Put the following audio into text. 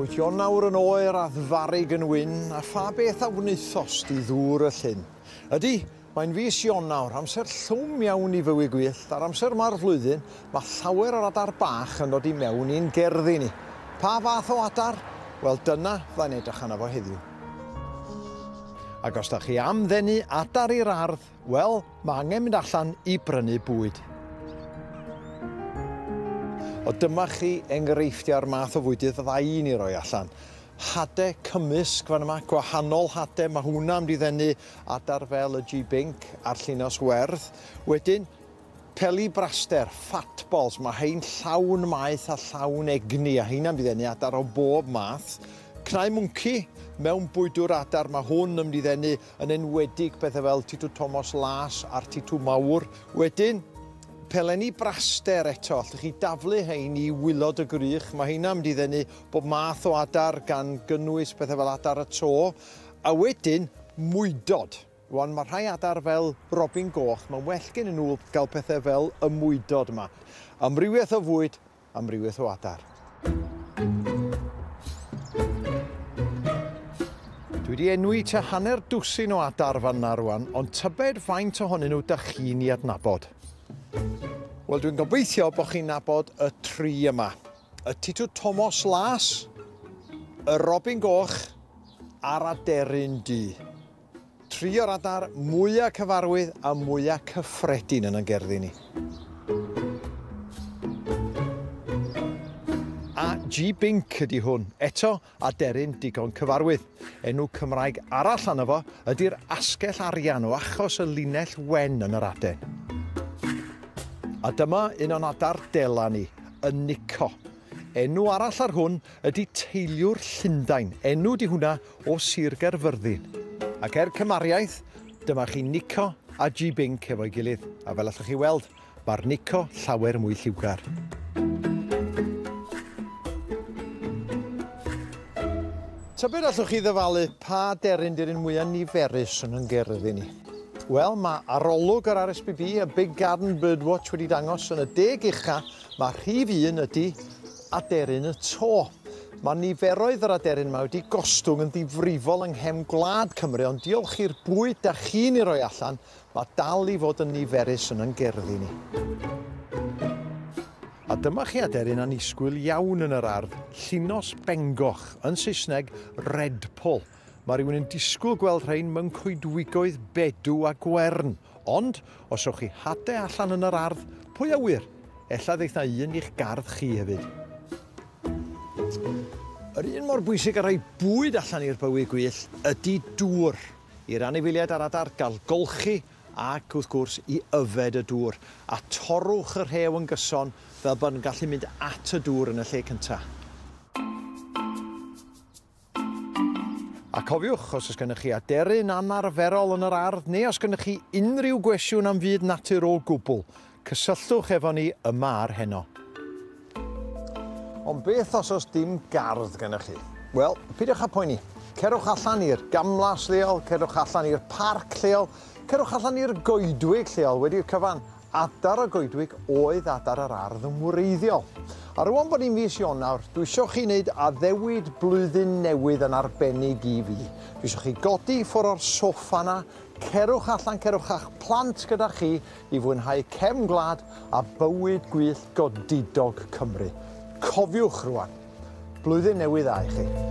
Wyt ti nawr yn oer a ddfarig yn wyn, a pha beth a wnaethost di ddŵr y llyn? Ydy, mae'n fis Ionawr, amser llwm iawn i fywyd gwyllt, a'r amser yma'r flwyddyn, mae llawer o'r adar bach yn dod i mewn i'n gerddi ni. Pa fath o adar? Wel, dyna fydda'n edrych arno fo heddiw. Ac os da chi am ddenu adar i'r ardd, Wel, mae angen mynd allan i brynu bwyd. O dyma chi enghreifftiau'r math o fwydydd fydda i'n ei roi allan. Hade cymysg fan yma, gwahanol hade, mae hwnna am diddennu adar fel y G-Bink a'r llinos werdd. Wedyn, peli braster, fat balls, mae hein llawn maeth a llawn egni a heina'n diddennu adar o bob math. Cnau mwnci, mewn bwydwr adar, mae hwn yn diddennu yn enwedig pethau fel Titw Tomos Las a'r Titw Mawr. Wedyn, pelenni braster eto, allwch chi daflu hein i wylod y gwrych, mae heina mynd i ddenu bob math o adar gan gynnwys pethau fel adar y to, a wedyn mwydod. Wan, mae rhai adar fel robin goch, mae'n well gen nhw gael pethau fel y mwydod yma. Amrywiaeth o fwyd, amrywiaeth o adar. Dwi wedi enwi ta hanner dwsin o adar fan na rwan, ond tybed faint ohonyn nhw da chi'n i adnabod? Wel, dwi'n gobeithio bod chi'n nabod y tri yma. Y titw Tomos Las, y Robin Goch a'r Aderyn Du. Tri o'r adar mwya' cyfarwydd a mwya' cyffredin yn 'n gerddi ni. A G Binc ydi hwn. Eto, aderyn digon cyfarwydd. Enw Cymraeg arall arno fo ydi'r asgell arian o achos y linell wen yn yr aden. A dyma un o'n adar dela ni, y Nico. Enw arall ar hwn Ydy teiliwr Llundain, enw di hwnna o Sir Gaerfyrddin. Ac er cymariaeth, dyma chi Nico a Ji Binc efo'i gilydd, a fel allwch chi weld, mae'r Nico llawer mwy lliwgar. Tybed allwch chi ddyfalu pa deryn di'r un mwyaf niferus yn yn gyrdd i ni? Wel, mae arolwg yr RSPB a Big Garden Birdwatch wedi dangos yn y deg ucha, mae rhif un ydy aderyn y to. Mae niferoedd yr aderyn yma wedi gostwng yn ddifrifol yng nghefn gwlad Cymru, ond diolch i'r bwyd da chi'n ei roi allan, mae dal i fod yn niferus yn yn gerddi ni. A dyma chi aderyn annisgwyl iawn yn yr ardd, llinos bengoch, yn Saesneg redpoll. Mae rhywun yn disgwyl gweld rhain mewn coedwigoedd bedw a gwern, ond os rhowch chi hade allan yn yr ardd, pwy a ŵyr, ella ddeith na un i'ch gardd chi hefyd. Yr un mor bwysig a rhoi bwyd allan i'r bywy gwyllt ydy dŵr. I'r anifeiliaid a'r adar gael golchi ac, wrth gwrs, i yfed y dŵr. A torrwch y rhew yn gyson fel bod yn gallu mynd at y dŵr yn y lle cyntaf. A cofiwch, os oes gennych chi aderyn anarferol yn yr ardd neu os gennych chi unrhyw gwestiwn am fyd natur o gwbl, cysylltwch efo ni yma ar heno. Ond beth os oes dim gardd gennych chi? Wel, peidiwch â phoeni. Cerwch allan i'r gamlas leol, cerwch allan i'r parc lleol, cerwch allan i'r goedwig lleol wedi'r cyfan Adar a goedwig oedd adar yr ardd yn wreiddiol. A rŵan bod ni'n fis Ionawr, dwi isio chi wneud addewid blwyddyn newydd yn arbennig i fi. Dwi isio chi godi i ffwr o'r soffa 'na, cerwch allan, cerwch â'ch plant gyda chi i fwynhau cefn gwlad a bywyd gwyllt godidog Cymru. Cofiwch rŵan. Blwyddyn Newydd Dda i chi.